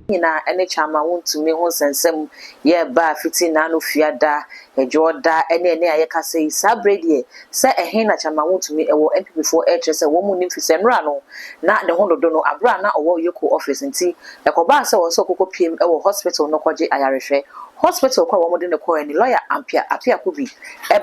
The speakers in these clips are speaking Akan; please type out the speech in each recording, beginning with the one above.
nyinaa ne kyɛ ama wontumi ho nsɛnsɛm yɛ baa fiti naano fia da, adwoɔ da ne ɛnɛ a yɛka sɛ yi. Saa berɛ deɛ sɛ ɛhe na kyɛ ma wontumi wɔ NPP foɔ ɛrekyerɛ sɛ wɔn nnim fisɛ nnora no na ne ho dodo no aberɛ a na ɔwɔ Yoko office nti ɛkɔbaa sɛ ɔwɔ sɛ ɔkɔkɔ piem wɔ hospital no kɔgye ayarehwɛ. Hospital kɔ a wɔn de no kɔɛ ne lawyer Ampia Apiakubi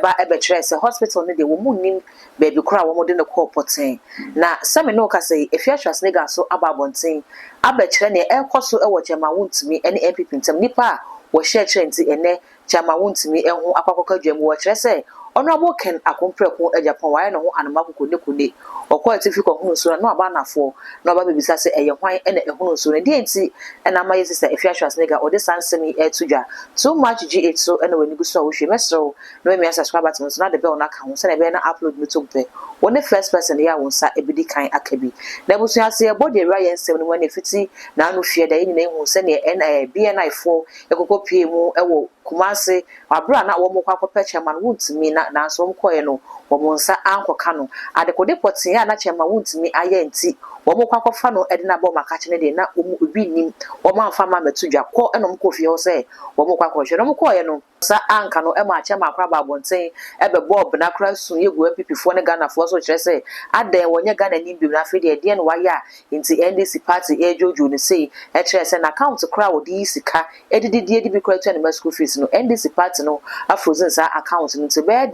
ba bɛkyerɛɛ sɛ hospital no deɛ wɔn nnim baabi koro a wɔde no kɔɔ pɔtee. Na sɛ me ne wo kasa yi, efi AstraZeneca so aba abɔnten abɛkyerɛ nea ɛrekɔ so wɔ Gyama Wontumi ne NPP ntam. Nnipa a wɔhyɛɛ kyerɛ nti ɛnnɛ Gyama Wontumi ho akɔ akɔka dwa mu. Wɔkyerɛ sɛ Honourable Ken Akom Prɛko Agyapong wayɛ ne ho anoma kokonekone. Ɔkɔɔ atifi kɔhonoo nsuo no na waba anafoɔ na waba abɛbisa sɛ ɛyɛ hwan na ɛhonoo nsuo no. Deɛn nti na ama yɛn sista Efi AstraZeneca ɔde saa nsɛm yi reto dwa? Too much GH so na w'ani gu so a wohwie? Mɛsrɛ wo Mema me subscribers no sound bell no aka ho sɛnea ɛbɛyɛ na upload no tom pɛ. Wo ne first person yɛ a wo nsa bedi kan aka bi. Na abusua sɛ yɛbɔ deɛ wura yɛ nsɛm no mu ɛna ɛfiti naano fiɛ da yɛn nyinaa huu sɛdeɛ ɛn ɛɛ BNI foɔ ɛkɔkɔ pie mu ɛwɔ Kumasi aberɛ a na wɔn rekɔ akɔ pɛ Chairman Wontumi na nanso wɔn kɔɛ no wɔn nsa ankɔ ka no adekode pɔtee a na Chairman Wontumi ayɛ nti wɔn rekɔ akɔ fa no ɛde no aba wɔn akakye no deɛ na wɔn obi nnim wɔn amfa ma mɛto dwa kɔ ɛna wɔn kɔ fie hɔ sɛ wɔn rekɔ akɔ hwɛ na wɔn kɔɛ no Sa anka no ɛma akyɛ ma akora ba abonten ɛbɛbɔ ɔbena kora su yɛ gu NPP foɔ ne Ghana foɔ so kyerɛ sɛ adɛn wɔnyɛ Ghana ni bio na afei deɛ ɛdeɛn na wayɛ a nti NDC party ɛredwodwo no sei ɛkyerɛ sɛ n'account kora a ɔde yi sika ɛdidi deɛ ɛde bi kora tua ne mma school fees no NDC party no afrozen saa account no nti ɛbɛyɛ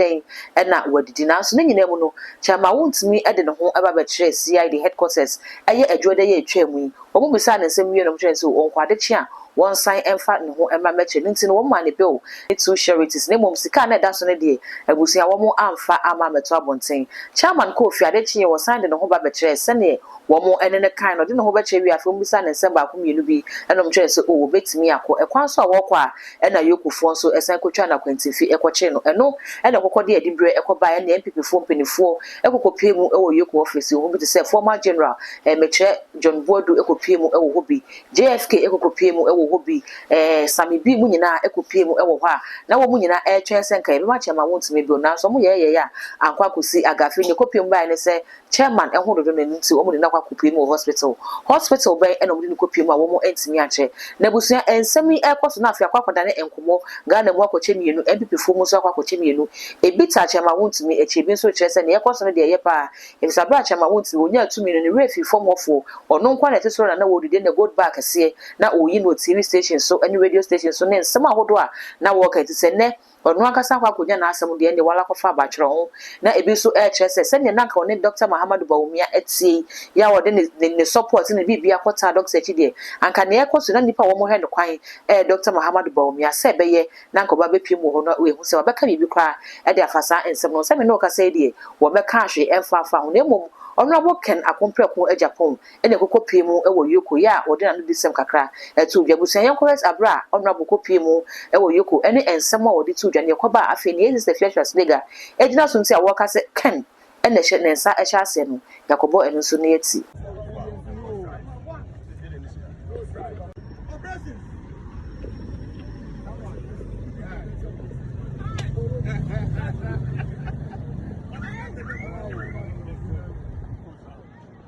dɛn na wadidi nanso ne nyinaa mu no kyɛ ma wontumi ɛde ne ho ɛba bɛkyerɛ CID headquarters ɛyɛ adwuada yi a ɛtwaa mu yi Wɔbisaa no nsɛm wiei na wɔkyerɛɛ no sɛ ɔnkɔ adekye a wɔnsan mfa ne ho mma mmɛkyɛ no nti no wɔmmaa no bill ne two sureties na mmom sika a na ɛda so no deɛ abusua wɔn amfa amma ammɛto abɔnten. Chairman kɔɔ fie ade kyeeɛ wɔsan de ne ho ba bɛkyerɛɛ sɛdeɛ wɔn ne no kae no ɔde ne ho bɛkyerɛ wiee afei wɔbisaa no nsɛm baako mmienu bi na wɔkyerɛɛ no sɛ oh wɔbɛtumi akɔ. Ɛkwan so a wɔrekɔ a ɛna Yokofoɔ nso san kɔtwaa no akwantinfi kɔkyee no ɛno na ɛkɔkɔdeɛ a ɛde berɛ kɔbaeɛ ɛne NPP foɔ mpaninfoɔ kɔkɔpuee mu wɔ Yoko ɔfasuo ho bi te sɛ Former General, eh, mekyerɛ John Boadu kɔpuee mu wɔ hɔ bi, JFK kɔkɔpuee mu wɔ hɔ bi, eh, Sammy B mu nyinaa kɔpuee mu wɔ hɔ a na wɔn nyinaa retwɛn sɛ nka yɛbɛma chairman wontumi bio nanso wɔn yɛɛyɛɛ a ankɔ akɔsi aga afei nea ɛkɔpuee mu baeɛ ne sɛ chairman ho dodo no ɛno nti wɔn de no akɔ akɔpuee mu wɔ hospital hospital bɛn ɛna wɔn de no kɔpuee mu a wɔn antumi ankyɛ na abusua nsɛm yi ɛrekɔ so na afei akɔ akɔdane nkɔmmɔ Ghana mu akɔkyɛ mmienu NPP foɔ mu nso akɔ akɔkyɛ mmienu Ebi te akyɛ ma wontumi, ɛkyɛ ebi nso kyerɛ sɛ nea ɛrekɔ so no deɛ ɛyɛ paa. Efisɛ aberɛ a akyɛ ma wontumi, wɔnyaa tumi no, ne werɛ fii fam hɔfoɔ. Ɔno nko ara na ɛte soro na na wɔdi, deɛ na Gold Bar kɛseɛ na ɔreyi no wɔ TV station so ne radio station so ne nsɛm ahodoɔ a na wɔreka yi. Te sɛ nnɛ, ɔno ankasa akɔ akɔnya n'asɛm deɛ ɛnneɛ wala kɔfa aba twerɛ ho. Na ebi nso rekyerɛ sɛ sɛdeɛ na anka ɔne Dɔkta Mahamadou Bawumia teɛ yi, yɛ a ɔde ne ne support ne ne biribiara kɔtaa Dɔkta akyi deɛ, anka nea ɛrekɔ so yi, na nnipa a wɔrehwɛ no kwan yɛ Dɔkta Mahamadou Bawumia sɛ ɛbɛyɛ na anka wɔbɛpiem wɔ hɔ no ahu sɛ wabɛka biribi koraa de afa saa nsɛm no ho. Sɛ me ne wo kasa yi deɛ, wɔmmɛkaa hwee ɛmfa mfaa ho, na mmom Ɔnoabo Ken Akompreko Agyapong na ɛkɔkɔ pie mu wɔ Yoko yɛ a wɔde n'anodisɛm kakra too dwa. Abusua yɛnkɔ hwɛ aberɛ a Ɔnoabo kɔ pie mu wɔ Yoko ne nsɛm a wɔde too dwa, deɛ ɛkɔbaa, afei nea Sister Fiacre Slega gyina so nti a wɔreka sɛ Ken ɛna ɛhyɛ ne nsa hyɛ aseɛ no, yɛakɔbɔ ɛno nso ne ati.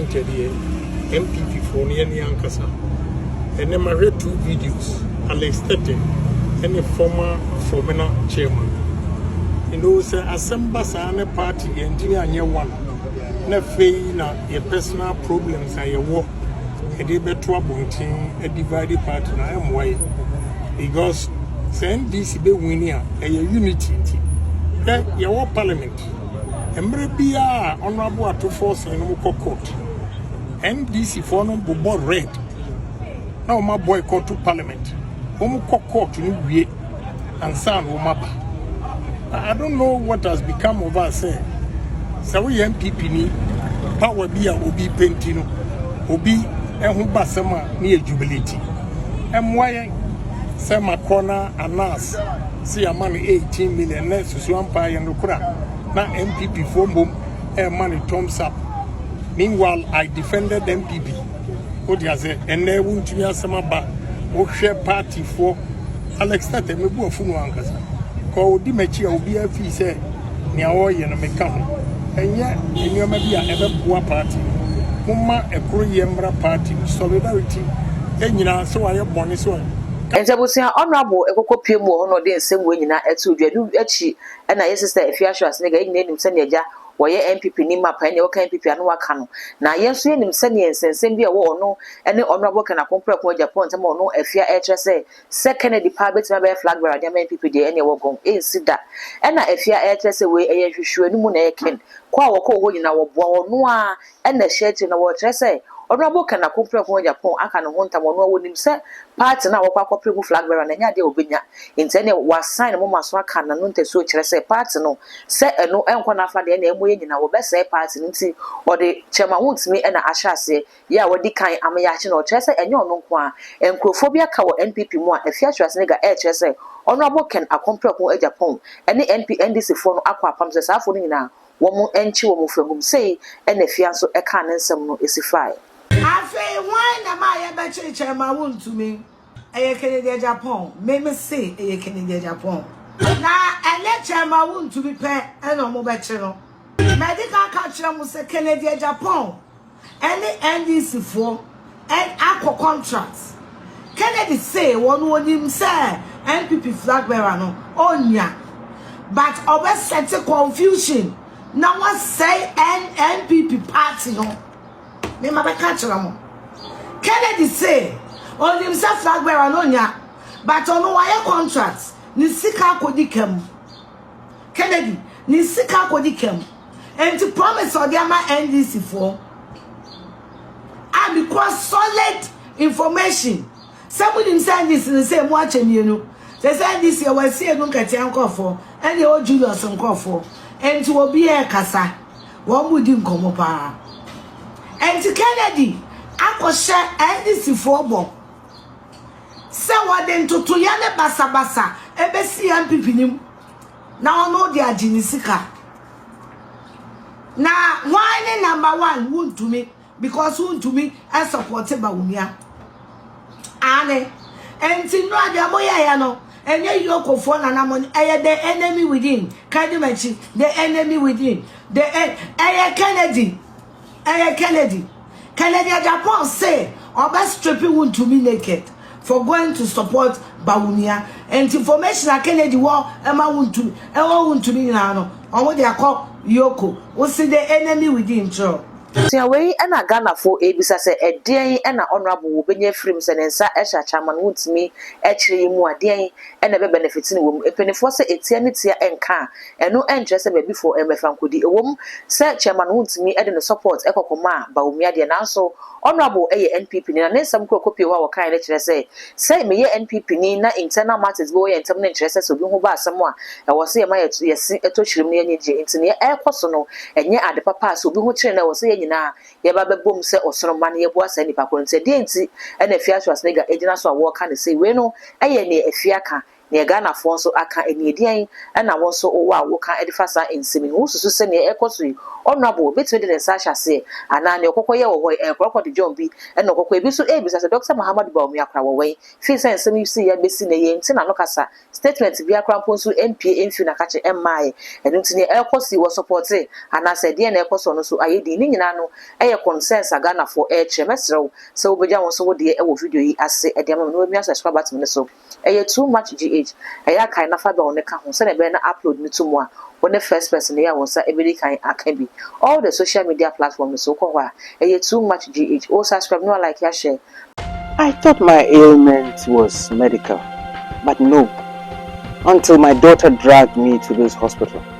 Nkyɛdeɛ MPP foɔ no yɛne ankasa ɛnɛ mahwɛ two videos Alex Tete ɛne former Fomena chairman ɛno sɛ asɛm ba saa ne party yɛntini anyɛ one na afei na Yɛ personal problems a yɛwɔ yɛde bɛto abɔnten adivide party no a ɛmmoa yɛ because sɛ NDC bɛ wini a ɛyɛ unity nti hwɛ yɛwɔ parliament mmerɛ biara a honorable atofoɔ sene no kɔ court NDC foɔ no bobɔ red na wɔn abɔ ɛkɔto parliament wɔn kɔ court no wie ansa na wɔn aba i don't know what has become of us sɛ sɛ woyɛ npp ni power bi a obi penti no obi ɛho ba sɛm a ne yɛ jubilate ɛmoa yɛn sɛ makɔ na anas sɛ yɛama no 18 million na susu ampa yɛ no kora na npp foɔ mbom ɛma no thumbs up meanwhile i defended npp wode ase ɛnɛ wontumi asɛm aba wohwɛ partyfoɔ alex tata mɛbu afu no ankasa kɔ ɔdi m'akyi a obiara fii sɛ nea ɔreyɛ no meka ho ɛnyɛ nneɛma bi a ɛbɛboa party momma ɛkoro yɛ mmra party solidarity ɛnyinaa sɛ wayɛ bɔne sɛ ɛnti abusua honorable ɛkɔkɔ pie mu wɔ hɔ na ɔde nsɛm wɔ nyinaa ɛto dwa ɛno akyi ɛna yɛ sister ɛfi asho asenega yɛ nyinaa nim sɛnea agya wɔyɛ NPP ni map ɛneɛ woka NPP a ne waka no na yɛn nso yɛnim sɛneɛ nsɛnsɛm bi a ɛwɔ ɔno ɛne Honourable Ken Akon Prɛko Agya Paul ntɛm a ɔno Afia ɛrekyerɛ sɛ sɛ Kennedy paa bɛtumi abɛyɛ flag bearer de ama NPP deɛ ɛneɛ wɔgɔn ɛnsi da ɛna Afia ɛrekyerɛ sɛ wei ɛyɛ nhwehwɛanimu na ɛyɛ Ken kɔ a wɔkɔɔ hɔ nyinaa wɔboa ɔno ara Ɛna ɛhyɛ akyire no wɔrekyerɛ sɛ Honourable Ken Akompreko Agyapong aka ne ho ntam, ɔno ara ɔnim sɛ party no a wɔkɔ akɔpere mu flag bearer no ɛnyɛ adeɛ a ɔbɛnya nti ɛneɛ wɔasan ne moma so aka n'ano ntasuo kyerɛ sɛ party no sɛ ɛno ɛnkɔ n'afa deɛ ɛneɛ ɛmɔ yɛn nyinaa wɔbɛsɛe party no nti ɔde Chairman Wontumi ɛna ahyɛ aseɛ yɛ a wadi kan ama yɛakye no ɔkyerɛ sɛ ɛnyɛ ɔno nko ara nkurofoɔ bi aka wɔ NPP mu a Afia Schwarzenegger ɛrekyerɛ sɛ Honourable Ken Akompreko Agyapong ɛne NP NDC foɔ no akɔ apam sɛ saa foɔ no nyinaa wɔankye wɔn fahum. Sei na afia nso kaa ne nsɛm no si fae. Afei hwan na ɛma yɛbɛkyerekyɛre ma wontumi? Ɛyɛ Kennedy Agyapong. Me mese ɛyɛ Kennedy Agyapong. Na ɛnyɛ kyɛre ma wontumi pɛ na wɔbɛkye no. Mɛde ka aka akyerɛ mo sɛ Kennedy Agyapong ɛne NDC foɔ ɛn akɔ contract. Kennedy say wɔn onim sɛ NPP flag bearer no ɔnnya but ɔbɛ sɛte confusion na wasɛe ɛn NPP party no. Me ma bɛka kyerɛ mo. Kennedy say onim sɛ flag bearer no ɔnnya but ɔno wayɛ contract ne sika akɔdi ka mu. Kennedy ne sika akɔdi ka mu. Enti promise a ɔde ama NDC foɔ a mekura solid information sɛ monim sɛ NDC no sɛ mu akyɛ mmienu sɛ sɛ NDC ɛwɔ asie no nkatia nkurɔfoɔ ɛne ɛwɔ Julius nkurɔfoɔ enti obi ɛkasa wɔn mu di nkɔmɔ paa enti Kennedy akɔhyɛ NDC foɔ bɔ sɛ wɔde ntotoyɛ ne basabasa ɛbɛsi MPP nim Na ɔno de agye ne sika. Na why ne number one wuntumi because wuntumi ɛsɔpɔte ba onua. Aane. Enti nnura deɛ mo yɛ yɛ no ɛnyɛ yokofoɔ na na mo ɛyɛ the enemy within kadi makyi the enemy within the ɛyɛ Kennedy. Ɛyɛ Kennedy. Kennedy Agyapong se ɔbɛ stripi Wontumi naked for going to support Bawumia. Nti information a Kennedy wɔ ɛma Wontumi, ɛwɔ Wontumi nyinaa no, ɔmo de akɔ Yoko. Wo se the enemy within kyerɛw. Sua wei na Ghanafo ɛrebisa sɛ ɛdeɛn na Honourable wɔ bɛnya afiri mu sɛ ne nsa hyɛ Achaman Wontumi kyerɛ yi mu a deɛn na ɛbɛ benefit no wɔ mu? Mpanifoɔ sɛ ɛtia ne tia nka a Ɛno nkyerɛ sɛ baabi foɔ mmɛfa nkɔdi. Ɛwom sɛ Chairman Wontumi de ne support kɔ kɔmaa Bawumia deɛ nanso Honourable yɛ NPP ni na ne nsɛm kura kopie hɔ a wɔkaeɛ no kyerɛ sɛ sɛ meyɛ NPP ni na internal matters bi wɔ yɛn ntam no nkyerɛ sɛ sɛ obi ho ba asɛm a ɛwɔ sɛ yɛma yɛse ɛtɔ hyirim na yɛnyɛ gye nti nea ɛrekɔ so no ɛnyɛ ade papa a sɛ obi ho kyere no ɛwɔ sɛ yɛn nyinaa yɛba bɛbom sɛ ɔsono mma na yɛboa saa nipa korɔ no nti ɛdeɛn nti na Afia Schwarzenegger gyina so a wɔreka no sei wei no yɛ nea Afia ka neɛ Ghanafoɔ nso aka ɛneɛ deɛn ɛna wo nso wowɔ a woka de fa saa nsɛm yi ho wosusu sɛ neɛ ɛrekɔ so yi Honourable bɛtumi de ne nsa ahyɛ aseɛ anaa neɛ ɔkɔkɔ yɛ wɔ hɔ yi ɛyɛ kɔrɔkɔ de dwom bi ɛna ɔkɔkɔ yɛ ebi nso ɛrebisa sɛ Doctor Mahamadou Bawumia kora wɔ wɛn firi sɛ nsɛm yi sii abɛsi nnɛ yɛn nte n'ano kasa statement biara kora mpo nso ɛmpie ɛmfiri n'akakye ɛmmaeɛ ɛno nti neɛ ɛrekɔ so yi wɔ supporte anaa sɛ ɛdeɛn na ɛrekɔ so ɔno nso ayɛ din ne nyinaa no ɛyɛ concerns a Ghanafoɔ ɛrekyerɛ mɛsrɛ wo sɛ wobɛgya wo nso wo deɛ ɛwɔ video yi ase ɛde ama me na wamia subscribe button no so. Ɛyɛ too much GH, ɛyɛ a kae na fa bell no ka ho sɛnea ɛbɛyɛ na upload no to mu a wo ne first person yi a wo nsa bɛdi kan aka bi. All the social media platform no so wokɔ hɔ a, ɛyɛ too much GH. O subscribe na wa like ya share. I thought my ailment was medical but nope until my daughter dragged me to this hospital.